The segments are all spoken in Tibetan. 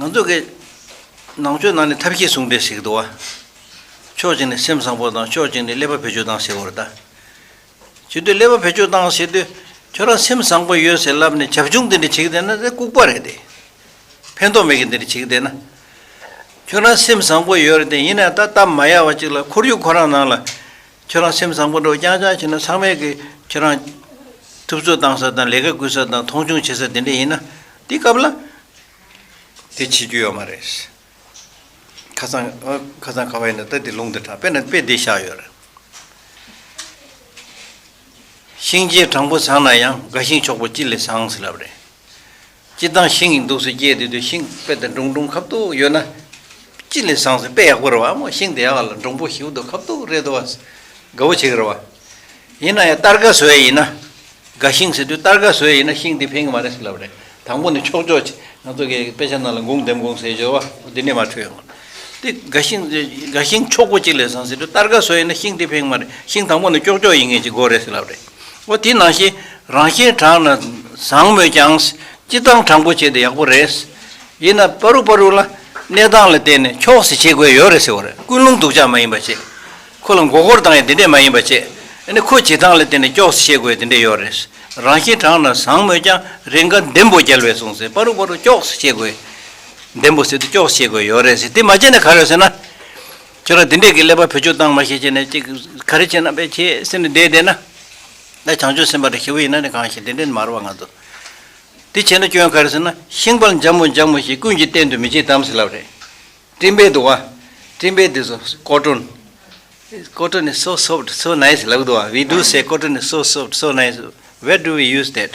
ང་ཚོ་གི་ནང་ཆོས་ནང་ནས་ཐབས་ཤེས་ཟུང་འབྲེལ་ཞིག་འདུག་ཨ། ཕྱོགས་གཅིག་ནས་སེམས་བཟང་པོ་དང་ཕྱོགས་གཅིག་ནས་ཀླད་པ་བེད་སྤྱོད་བཏང་ཟེར་བར་ལྟ། བྱེད་དུས་ཀླད་པ་བེད་སྤྱོད་བཏང་ཟེར་དུས་ཁྱོད་རང་སེམས་བཟང་པོ་ཡོད་ཟེར་ལབ་ནས་བྱབ་ཆུང་འདི་འདྲ་བྱེད་བསྡད་ན་དེ་ལྐུགས་པ་རེད་དེ། ཕན་ཐོགས་མེད་གི་འདི་འདྲ་བྱེད་བསྡད་ན། ཁྱོད་རང་སེམས་བཟང་པོ་ཡོད་རེད་དེ་ཡིན་ནའི་ད་སྟབས་མ་ཡག་བ་ཅིག་ལ་ཁོར་ཡུག་ཁོ་རང་ནང་ལ་ཁྱོད་རང་སེམས་བཟང་པོ་འགྲོ་རྐྱང་རྐྱང་བྱེད་ན་ཚང་མས་ཀྱི་ཁྱོད་རང། ཐུབ་ཚོད་བཏང་ས་དང་ལས་ཀ་སྐུལ་ས་དང་མཐོང་ཆུང་བྱེད་ས་དེ་འདྲ་ཡིན་ན། དེ་སྐབས་ལ། དེ་བྱེད་རྒྱུ་ཡོད་མ་རེད། ཁ་ཚང། ཁ་ཚང་ཁ་བ་ཡིན་ན་ད་དེ་ལུང་དེ་དྲག་དཔེ་ན་དཔེ་བདེ་ཤག་ཡོད་རེད། ཤིང་རྗེས་དྲང་པོ་བཟང་ན་ཡང་དགའ་ཤིང་མཆོག་པོ་ཅི་ལས་བཟང་ཟེར་ལབ་རེད། སྤྱི་བཏང་ཤིང་ཡིན་འདུག་ཟེར་སྐྱེས་དེ་དུས་ཤིང་དཔེ་དེ་སྒྲུང་སྒྲུང་ཁབ་ཏུ་ཡོད་ན། སྤྱི་ལས་བཟང་ཟེར་དཔེ་ཡག་པོ་རེད་བ་མོ་ཤིང་དེ་ཡག་ལ་སྒྲུང་པོ་ཞིབ་ཏུ་ཁབ་ཏུ་རེད་དོ་བ། དགའ་བོ་བྱེད་ཀྱི་རེད་བ། ཡིན་ན་ཡང་གཏར་དགའ་བཟོས་ཡ་ཡིན་ན། དགའ་ཤིང་ཟེར་དུས་གཏར་དགའ་བཟོས་ཡ་ཡིན་ན་ཤིང་དེ་ཕན་གྱི་མ་རེད་ཟེར་ལབ་རེད་དང་པོ་ནས་ཆོག་ཆོག་ཆེ་ང་ཚོ་གས་དཔེ་ཆ་རྣམས་ལ་འགུངས་འདེམས་འགུངས་ཟེར་ཞོར་བ་མོ་དེ་འདྲས་མ་འཁྲུལ་ཡོང་ངོ། དེ་དགའ་ཤིང་དགའ་ཤིང་མཆོག་པོ་སྤྱི་ལས་བཟང་ཟེར་དུས་གཏར་དགའ་བཟོས་ཡ་ཡིན་ན་ཤིང་དེ་ཕན་གྱི་མ་རེད་ཤིང་དང་པོ་ནས་ཅོག་ཅོག་ཡིན་ངེས་ཀྱི་དགོས་རེད་ཟེར་ལབ་རེད། ཨོ་དེ་ནང་བཞིན་རང་བཞིན་དྲང་ན་བཟང་མོད་ཀྱང། སྤྱི་བཏང་དྲང་པོ་བྱས་ཏེ་ཡག་པོ་རེད། ཡིན་ནམ་པ་རུག་པ་རུག་ལ་གནས་སྟངས་ལ་བལྟས་ནས་ཁྱོགས་སེ་བྱེད་དགོས་ཡོད་རེད་ཟེར་བ་རེད་ཀུན་སློང་སྡུག་ཅག་མ་ཡིན་པ་བྱེད། ཁོ་ལ་མགོ་སྐོར་བཏང་ཡང་དེ་འདྲས་མ་ཡིན་པ་བྱེད། ནི་ཁོ་བྱེད་སྟངས་ལ་བལྟས་ནས་ཁྱོགས་སེ་བྱེད་དགོས་དེ་འདྲས་ཡོད་རེད། རང་བཞིན་དྲང་ན་བཟང་མོད་ཀྱང་རེ་འགའ་འདེམས་པོ་རྒྱལ་བས་གསུངས་ཟེར་པ་རུག་པ་རུག་ཁྱོགས་སེ་བྱེད་དགོས། འདེམས་པོ་ཟེར་དུས་ཁྱོགས་སེ་བྱེད་དགོས་ཡོད་རེད་ཟེར་དེ་མ་བྱས་ནས་ག་རེ་ཟེར་ན། ཁྱོད་རང་དེ་འདྲས་ཀྱི་ཀླད་པ་བེད་སྤྱོད་བཏང་མ་ཤེས་ཅེས་ནས་ཅིག་ག་རེ་བྱེད་ན་བེད་ཆེ་ཟེར་ནས་བསྡད་བསྡད་ན། ད་བྱང་ཆུབ་སེམས་དཔའ་རི་ཞི་བུ་ཡིན་ན་ནི་གང་ཞིག་དེ་འདྲས་ནི་མ་རུང་བ་ང་ཚོ། དེ་བྱས་ན་སྐྱོན་ག་རེ་ཟེར་ན་ཤིང་དཔལ་འཇམ་མོ་འཇམ་མོ་ཞེས་ཀུན་གྱིས་བསྟན་དུ་མི་བྱེད་དམ་ཟེར་ལབ་རེད། སྤྲིན་པས་དུ་བ། སྤྲིན་པས་དུ་སོ་ཀོ་ཀྲོན། ཀོ་ཀྲོན་ནི་སོ soft so nice ལབ་གི་འདུག་བ we do say ཀོ་ཀྲོན་ནི་སོ soft so nice where do we use that།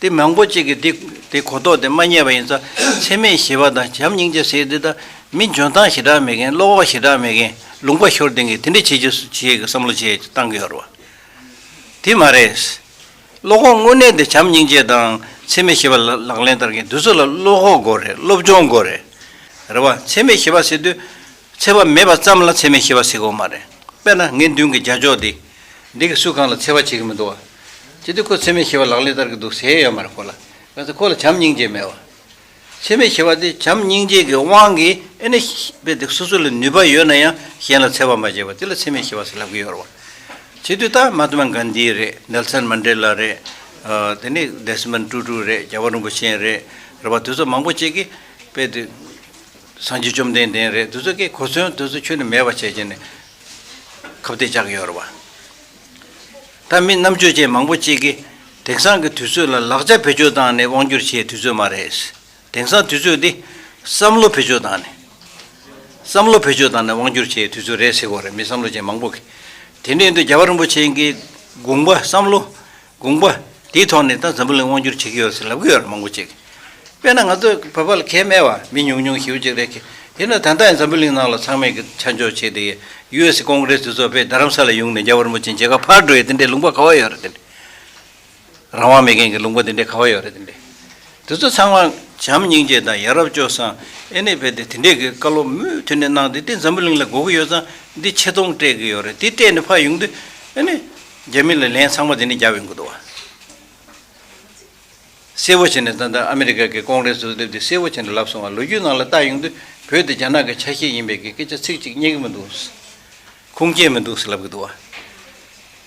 དེ་མང་པོ་གཅིག་གིས་དེ་གོ་རྟོགས་དེ་མ་རྙེད་པ་ཡིན་ཙང་ཚད་མེད་ཞི་བ་དང་བྱམས་སྙིང་རྗེ་ཟེར་དེ་དག་མི་འཇོན་ཐང་ཞེ་དྲག་མེད་མཁན་བློ་བག་ཞེ་དྲག་མེད་མཁན་ལུང་པ་ཤོར་ལྡན་གྱིས་དེ་འདྲ་བྱེད་རྒྱུ་སུ་བྱེད་ཀྱི་བསམ་བློ་བྱས་བཏང་གི་ཡོད་རེད་བ། དེ་མ་རེད། བློ་ཁོག་དངོས་གནས་དེ་བྱམས་སྙིང་རྗེ་དང་ཚད་མེད་ཞི་བ་ལག་ལེན་བསྟར་མཁན་དེ་ཚོ་ལ་བློ་ཁོག་དགོས་རེད་སློབ་སྦྱོང་དགོས་རེད། རེད་བ། ཚད་མེད་ཞི་བ་ཟེར་དུས་ཚད་པ་མེད་པ་ཙམ་ལ་ཚད་མེད་ཞི་བ་ཟེར་དགོས་མ་རེད། དཔེར་ན་ངེད་མདུན་གྱི་རྒྱ་ཅོག་འདི། འདི་གིས་སུ་གང་ལ་འཚེ་བ་བྱེད་ཀྱི་མི་འདུག་བ། ཅི་སྟེ་ཁོ་འཚེ་མེད་ཞི་བ་ལག་ལེན་བསྟར་གྱི་འདུག་ཟེར་ཡས་མར་ཁོ་ལ་ག་ཚད་ཁོ་ལ་བྱམས་སྙིང་རྗེ་མེད་བ། འཚེ་མེད་ཞི་བ་འདི་བྱམས་སྙིང་རྗེ་གི་དབང་གིས་ཨེ་ན་བས་འདི་སོ་སོ་ལ་ནུས་པ་ཡོད་ན་ཡང་གཞན་ལ་འཚེ་བ་མ་བྱེད་པར་དེ་ལ་འཚེ་མེད་ཞི་བ་ཟེར་ལབ་གི་ཡོད་རེད་བ། བྱེད་དུས་ཏཱ་མ་ཏཱ་མ་གཱན་དཱི་རེད་ནེལ་སན་མན་དྲེ་ལཱ་རེད། དེ་ནས་དེས་མན་ཀྲུ་ཀྲུ་རེད་རྒྱ་བ་རིན་པོ་ཆེན་རེད་རེད་བ་དེ་ཚོ་མང་པོ་བྱེད་ཀྱི་བས་དེ་སངས་རྒྱས་བཅོམ་ལྡན་འདས་རེད་དེ་ཚོ་ཀྱིས་གོ་མཚོན་དེ་ཚོ་ཁྱོད་ནས་མེད་པ་བྱས་བྱས་ནས། ཁབ་སྟེགས་ལྕགས་ཀྱི་ཡོར་བ། ད་མི་རྣམ་དཔྱོད་ཅན་མང་པོ་གཅིག་གིས་དེང་སང་གི་དུས་ཚོད་ལ་ལག་ཆ་བེད་སྤྱོད་བཏང་ནས་དབང་བསྒྱུར་བྱེད་དུས་ཚོད་མ་རེད། དེང་སང་དུས་ཚོད་འདི་བསམ་བློ་བེད་སྤྱོད་བཏང་ནས། བསམ་བློ་བེད་སྤྱོད་བཏང་ནས་དབང་བསྒྱུར་བྱེད་དུས་ཚོད་རེད་ཟེར་གོ་རེད་མི་བསམ་བློ་ཅན་མང་པོ་གིས། དེ་འདྲའི་འདུག་རྒྱ་བ་རིན་པོ་ཆེན་གྱི་དགོངས་པ་བསམ་བློ། དགོངས་པ། དེའི་ཐོག་ནས་ད་འཛམ་བུ་གླིང་དབང་བསྒྱུར་བྱེད་ཀྱི་ཡོད་ཟེར་ལབ་ཀྱི་ཡོད་རེད་མང་པོ་ཅིག། དཔེར་ན་ང་ཚོའི་བོད་པ་ལ་ཁས་མེད་བ་མི་ཉུང་ཉུང་ཞིག་ཡོད་ཅིག་རེད་ཀི། དེས་ན་ད་ལྟ་ཡང་འཛམ་བུ་གླིང་ནང་ལ་ཚང་མས་ཀྱི་ཆ་འཇོག་བྱས་ཏེ། US Congress འདི་ཚོ་བས་རྡ་རམ་ས་ལའི་ཡུང་ནས་རྒྱ་བོར་མོ་ཅན་བྱེད་ཁ་ཕར་འགྲོ་ཡི་དེ་འདྲའི་ལུང་པ་ག་བ་ཡོད་རེད་དེ་འདྲའི། རང་དབང་མེད་མཁན་གྱི་ལུང་པ་དེ་འདྲའི་ག་བ་ཡོད་རེད་དེ་འདྲའི། དེ་ཚོ་ཚང་མ་བྱམས་སྙིང་རྗེ་དང་ཡ་རབས་སྤྱོད་བཟང་ཨེ་ནས་བས་ཏེ་དེ་འདྲའི་གི་བཀའ་སློབ་མུ་མཐུད་ནས་གནང་སྟེ་དེ་འཛམ་བུ་གླིང་ལ་གོ་གི་ཡོད་ཙང་འདི་ཆེ་མཐོང་སྤྲད་ཀྱི་ཡོད་རེད་དེ་སྤྲད་ནས་ཕར་ཡོང་དུས་ཨེ་ནས། རྒྱ་མི་ལ་ལན་ཚང་མ་དེ་ནི་རྒྱ་བས་འགོ་འདོགས་བ། གསལ་བོ་བྱས་ནས་ད་ལྟ་ཨ་མི་རི་ཀ་གི་ཀོང་རེ་སུ་སླེབས་དུས་གསལ་བོ་བྱས་ནས་ལབ་སོང་བ་ལོ་རྒྱུས་ནང་ལ་བལྟ་ཡོང་དུས་བོད་དེ་རྒྱ་ནག་གི་ཆ་ཤས་ཡིན་པའི་གི་སྐད་ཆ་ཚིག་གཅིག་རྙེད་གི་མི་འདུག། ཁུངས་སྐྱེལ་མི་འདུག་ཟེར་ལབ་གི་འདུག་བ།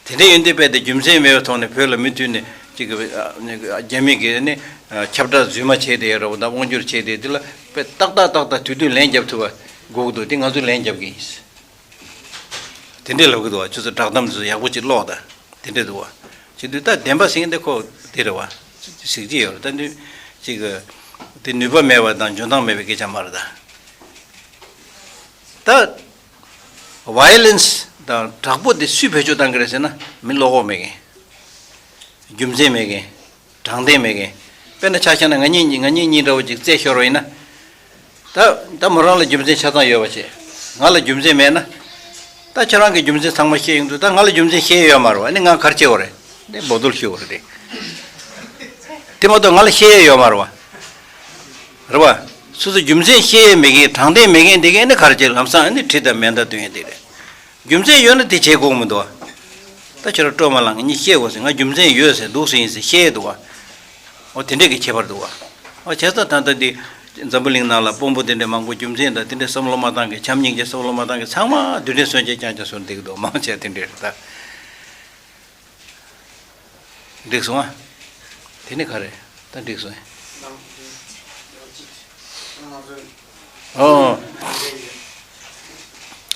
དེ་འདྲའི་ཡོན་ཏན་དཔེ་དེ་རྒྱུ་མཚན་མེད་པའི་ཐོག་ནས་བོད་ལ་མི་མཐུད་ནས་ཅིག་གི་རྒྱ་མི་གི་ནི་ཁྱབ་བསྒྲགས་རྫུན་མ་བྱས་དེ་ཡ་རབས་དང་དབང་བསྒྱུར་བྱས་དེ་དེ་ལ་དཔེ་ཏག་ཏག་ཏག་ཏག་དུས་དུས་ལན་རྒྱབ་ཐུབ་པ་དགོས་གི་འདུག་དེ་ང་ཚོས་ལན་རྒྱབ་གི་ཡིན། དེ་འདྲའི་ལོག་གི་འདུག་བ་ཁྱོད་ཚོ་བསྒྲགས་གཏམ་དེ་ཚོ་ཡག་པོ་ཅིག་ཀློག་དང་དེ་འདྲའི་འདུག་བ། ཅིག་དུས་ད་བདེན་པ་ཟིན་དེ་ཁོ་དེ་རེད་བ། ཟིག་ཅིག་ཡོད་རེད་ད་དུས། ཅིག། དེ་ནུས་པ་མེད་བ་དང་འཇོན་ཐང་མེད་པའི་སྐད་ཆ་མ་རེད་ད། ད། Violence། དང་དྲག་པོ་དེ་སུས་བེད་སྤྱོད་གཏང་གི་རེད་ཟེར་ན་མི་བློ་ཁོག་མེད་མཁན། རྒྱུ་མཚན་མེད་མཁན། དྲང་བདེན་མེད་མཁན། དཔེར་ན་ཆ་ཤས་ན་ང་གཉིས་གཉིས་ང་གཉིས་གཉིས་འདྲ་བོ་ཅིག་རྩེད་ཤོར་བ་ཡིན་ན། ད། ད་མོ་རང་ལ་རྒྱུ་མཚན་ཆ་ཚང་ཡོད་པ་བྱས། ང་ལ་རྒྱུ་མཚན་མེད་ན། ད་ཁྱེད་རང་གིས་རྒྱུ་མཚན་ཚང་མ་བཤད་ཡོང་དུས་ད་ང་ལ་རྒྱུ་མཚན་བཤད་ཡོད་མ་རེད་བ་ནི་ང་གར་སྐྱེ་བ་རེད། ནས་འབོ་རྡོལ་ཤི་བ་རེད། དེ་མ་གཏོགས་ང་ལ་བཤད་ཡས་ཡོད་མ་རེད་བ། རེད་བ། སོ་སོ་རྒྱུ་མཚན་བཤད་ཡས་མེད་མཁན་དྲང་བདེན་མེད་མཁན་དེ་གས་ནི་གར་སྐྱེ་ལམ་སང་ནི་ཁྲི་དང་མེ་མདའ་སྟོན་ཡས་དེ་རེད། རྒྱུ་མཚན་ཡོད་ན་དེ་བྱེད་དགོས་མི་འདུག་བ། ད་ཁྱོད་ར་སྤྲོ་མ་ལངས་གཉིས་བཤད་དགོས་ཟེར་ང་རྒྱུ་མཚན་ཡོད་ཟེར་འདུག་ཟེར་ཡིན་ཟེར་བཤད་འདུག་བ། འོ་དེ་འདྲས་གི་བྱེད་པར་འདུག་བ། འོ་བྱས་ཙང་ད་ལྟ་འདི། འཛམ་བུ་གླིང་ནང་ལ་དཔོན་པོ་དེ་འདྲས་མང་པོ་རྒྱུ་མཚན་དང་དེ་འདྲས་བསམ་བློ་མ་བཏང་གི་བྱམས་སྙིང་རྗེ་བསམ་བློ་མ་བཏང་གི་ཚང་མ་རྡུལ་ཕྲན་སོན་ཆས་རྐྱང་རྐྱང་སོན་འདེགས་འདུག་མང་ཆེ་བ་དེ་འདྲས་རེད་ད། འགྲིགས་སོང་ཨ། དེ་ནི་ག་རེད་ད་འགྲིགས་སོང་ཨེ། ཨོ།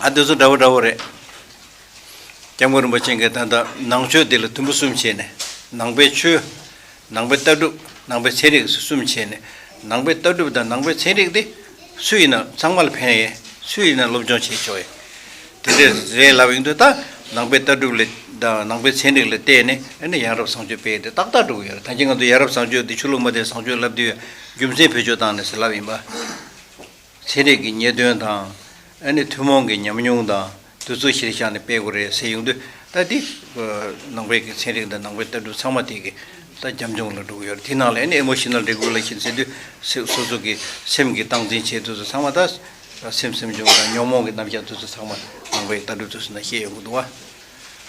ཨ་དེ་ཚོ་འདྲ་བོ་འདྲ་བོ་རེད། སྐྱབས་མགོན་རིན་པོ་ཆེ་འགས་ད་ལྟ་ནང་ཆོས་འདི་ལ་དུམ་བུ་གསུམ་བྱས་ནས་ནང་པའི་ཆོས། ནང་པའི་ལྟ་གྲུབ་ནང་པའི་ཚན་རིག་གསུམ་བྱས་ནས་ནང་པའི་ལྟ་གྲུབ་དང་ནང་པའི་ཚན་རིག་དེ་སུ་ཡིན་ནམ་ཚང་མ་ལ་ཕན་ཡས་སུ་ཡིན་ནམ་སློབ་སྦྱོང་བྱས་ཆོག་ཡས་དེ་འདྲས་རེད་ལབ་ཡིན་དུས་ད་ནང་པའི་ལྟ་གྲུབ་ལས་དང་ནང་པའི་ཚན་རིག་ལས་བལྟས་ནས་ཨེ་ནས་ཡང་རབས་བཟང་སྤྱོད་སྤེལ་དེ་ཏག་ཏག་འགྲོ་གི་ཡོད་རེད་ཐང་ཅིག་ང་ཚོ་ཡ་རབས་བཟང་སྤྱོད་དེ་ཆོས་ལུགས་མ་བསྟན་བཟང་སྤྱོད་ལབ་དུས་ཡ་རྒྱུ་མཚན་བེད་སྤྱོད་བཏང་ནས་ཟེར་ལབ་ཡིན་པ། ཚན་རིག་གི་ཉེས་དོན་དང་ཨེ་ནས་ཐུན་མོང་གི་ཉམས་མྱོང་དང། དུ་གཙོ་གཞིར་བཞག་ནས་སྤེལ་དགོས་རེད་ཟེར་ཡོང་དུས་ལྟ་དེ། ནང་པའི་གི་ཚན་རིག་དང་ནང་པའི་ལྟ་གྲུབ་ཚང་མ་དེ་གི་ལྟ་རྒྱབ་འཇུངས་ལ་འགྲོ་གི་ཡོད་རེད་དེ་ནང་ལ་ཨེ་ནི་ཨེ་མོ་ཤི་ནལ་རེ་གུ་ལ་ཤི་ཟེར་དུས་སོ་སོ་གི་སེམས་གི་སྟངས་འཛིན་བྱེད་དུས་སུ་ཚང་མ་ད་སེམས་སེམས་བྱུང་དང་ཉོང་མོངས་གི་རྣམ་གཞག་དུས་སུ་ཚང་མ་ནང་པའི་ལྟ་གྲུབ་དུས་སུ་ན་ཤེས་ཡོང་གི་འདུག་བ།